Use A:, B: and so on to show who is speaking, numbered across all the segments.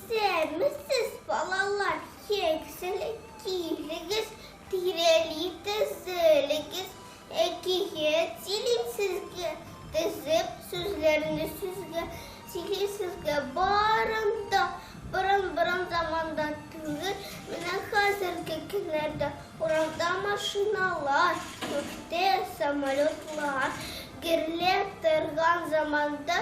A: Исәнмесез, балалар, киңселек килегез, тирәли тезелегез, әкият сөйлим сезгә, тезеп сүзләрне сүзгә, сөйлим сезгә барын да, борын-борын заманда түгел, менә хәзерге көннәрдә урамда машиналар, күктә самолетлар гөрләп торган заманда,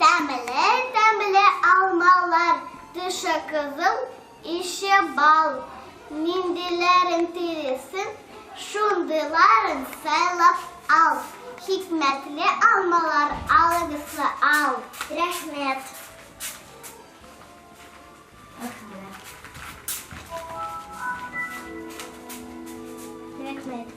A: Тәмле, тәмле алмалар, тышы кызыл, ише бал. Ниндиләрен телисен, шундыйларын сайлап ал. Хикмәтле алмалар алыгызны ал. Рәхмәт. Рәхмәт.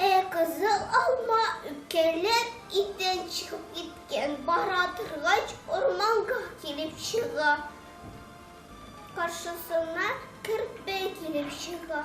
A: Ә кызыл алма үпкәләп иттән чыгып киткән, бара торгач, урманга килеп чыга. Каршысына керпе килеп чыга.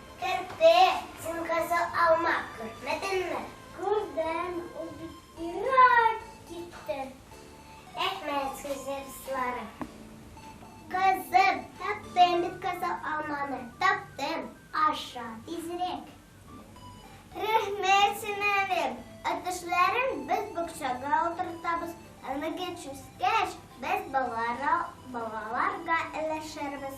A: Керде, син кызыл алма күрмәдеңме? Күрдем, ул бит ерак китте. Рәхмәт сезгә, дусларым. Кызым, таптым бит кызыл алманы, таптым. Аша тизрәк. Рәхмәт, сеңелем. Әтәшләрен без бакчага утыртабыз, әлеге чүскәч без балаларга өләшербез.